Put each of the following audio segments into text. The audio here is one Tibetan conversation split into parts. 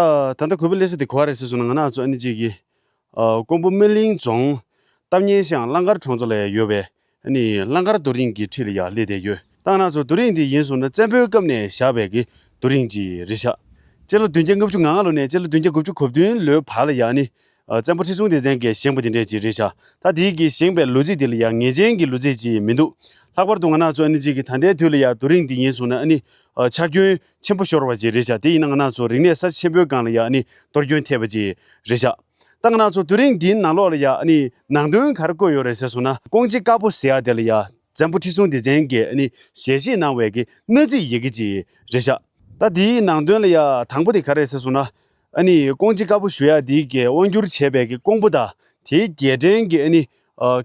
ད་ལྟ་གུས་པས་ལེ་སི་དེ་གོ་བ་རེད་ཟེར་སོང་ན་ང་ནི་ཨ་ཚོགས་ཨ་ནི་གཅིག་གིས། ཀོང་པོ་སྨིན་གླིང་རྫོང། སྟབས་ཉེན་ཞིང་གླང་དཀར་གྲོང་ཚོ་ལ་ཡང་ཡོད་པའི། ཨ་ནི་གླང་དཀར་རྡོ་རིང་གི་ཁྲི་ལ་ཡང་སླེ་བསྡད་ཡོད། ཏང་ནང་ཚོ་རྡོ་རིང་དེ་ཡིན་སོང་ན་བཙན་པོའི་སྐབས་ནས་བཞག་པའི་གི་རྡོ་རིང་གཅིག་རེད་བཞག། སྤྱི་ལོ་བདུན་བརྒྱ་ལྔ་བཅུ་ང་ལྔ་ལོ་ནས་སྤྱི་ལོ་བདུན་བརྒྱ་དགུ་བཅུ་གོ་བདུན་ལོའི་བར་ལ་ཡང་ཨ་ནི། བཙན་པོ་ཁྲི་སྲོང་ལྡེ་བཙན་གྱིས་བཞེངས་པ་དེ་འདྲས་གཅིག་རེད་བཞག་ད་དེའི་གི་བཞེངས་པའི་ལོ་ཚིགས་དེ་ལ་ཡང་ངེས་ཅན་གྱི་ལོ་ཚིགས་གཅིག་མི་འདུག་ལྷག་པར་དུ་ང་ནག་ཚོགས་ཨ་ནི་གཅིག་གི་ད་ལྟའི་དུས་ལ་ཡང་རྡོ་རིང་དེ་ཡིན་སོང་ན་ཨ་ནི། ཆག་སྐྱོན། ཆེན་པོ་ཤོར་བ་བཅས་རེད་བྱ་དེ་ཡིན་ན་ང་ནག་ཚོ་རིག་གནས་ས་ཆེན་པོའི་སྒང་ལ་ཡང་གཏོར་སྐྱོན་ཐེབས་པ་བཅས་རེད་བྱ། ད་ང་ནག་ཚོ་དུས་རིང་འདིའི་ནང་ལོག་ལ་ཡང་ནང་དོན་ག་རེ་བཀོད་ཡོད་རེད་ཟེར་སོང་ན་ཀོང་ཅི་དཀར་པོ་ཟེར་ཡག་དེ་ལ་ཡང་བཙན་པོ་ཁྲི་སྲོང་ལྡེ་བཙན་གྱིས་ཞལ་བཞེས་གནང་བའི་གནའ་རྫིག་ཡི་གེ་བཅས་རེད་བྱ། ད་དེའི་ནང་དོན་ལ་ཡང་དང་པོ་དེ་ག་རེད་ཟེར་སོང་ན་ཨ་ནི་ཀོང་ཅི་དཀར་པོ་ཞུ་ཡག་འདི་གའི་དབང་སྒྱུར་བྱེད་པའི་ཀོང་པོ་དང་དེའི་རྒྱལ་ཕྲན་གྱི་ཨ་ནི་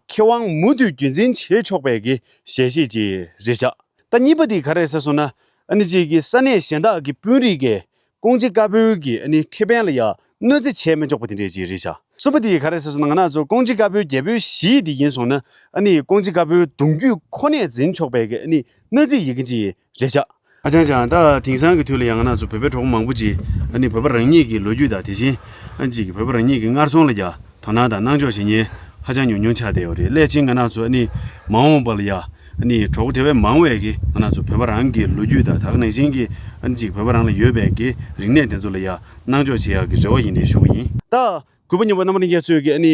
ཁེ་དབང་མུ་མཐུད་རྒྱུན་འཛིན་བྱེད་ཆོག་པའི་གི་ཞལ་བཞེས་ཀྱི་རེད་བཞག་ད་གཉིས་པ་དེ་ག་རེད་ཟེར་སོང་ན་ཨ་ནི་གཅིག་གི་ས་གནས་གཞན་དག་གི་དཔོན་རིགས་ཀས་ཀོང་ཅི་དཀར་པོའི་གི་ཨ་ནི་ཁེ་ཕན་ལ་ཡག་གནོད་འཚེ་བྱས་མི་ཆོག་པ་དེ་འདྲས་ཀྱི་རེད་བཞག་གསུམ་པ་དེ་ག་རེད་ཟེར་སོང་ན་ང་ནག་ཚོ་ཀོང་ཅི་དཀར་པོའི་རྒྱལ་པོའི་གཞིས་དེ་ཡིན་སོང་ན་ཨ་ནི་ཀོང་ཅི་དཀར་པོའི་གདུང་རྒྱུད་ཁོ་ནས་འཛིན་ཆོག་པའི་གི་ཨ་ནི་གནོད་འཚེ་ཡི་གི་ཅི་ཡི། རེ་བཞག། ཨ་ཅང་ཅང། ད་དེང་སང་གི་དུས་ལ་ཡང་ང་ཚོ་བོད་པའི་གྲོགས་པོ་མང་པོ་ཅིག་ནི་བོད་པ་རང་ཉིད་ཀྱི་ལོ་རྒྱུས་དང་དེ་བཞིན་ཅིག་བོད་པ་རང་ཉིད་ཀྱི་སྔར་སོང་ལ་རྒྱ་དོ་སྣང་དང་སྣང་འཇོག་བྱེད་ཉེན་ཧ་ཅང་ཉུང་ཉུང་ཆགས་བསྡད་ཡོད་རེད་སླད་ཕྱིན་ང་ནག་ཚོ་ནི་མ་འོངས་པ་ལ་ཡང་ནི་གྲོགས་པོ་དེ་བས་མང་བས་ཀྱི་ང་ནག་ཚོ་བོད་པ་རང་གི་ལོ་རྒྱུས་དང་དག་ནང་བཞིན་གྱི་ཅིག་བོད་པ་རང་ལ་ཡོད་པའི་ཀྱི་རིག་གནས་དེ་ཚོ་ལ་ཡང་སྣང་འཇོག་བྱེད་ཡག་གི་རེ་བ་ཡིན་རེ་ཞུ་གི་ཡིན། ད་གུས་པ་སྙོམས་པ་རྣམ་པ་རིན་རྒྱ་མཚོས་ཀྱི་ནི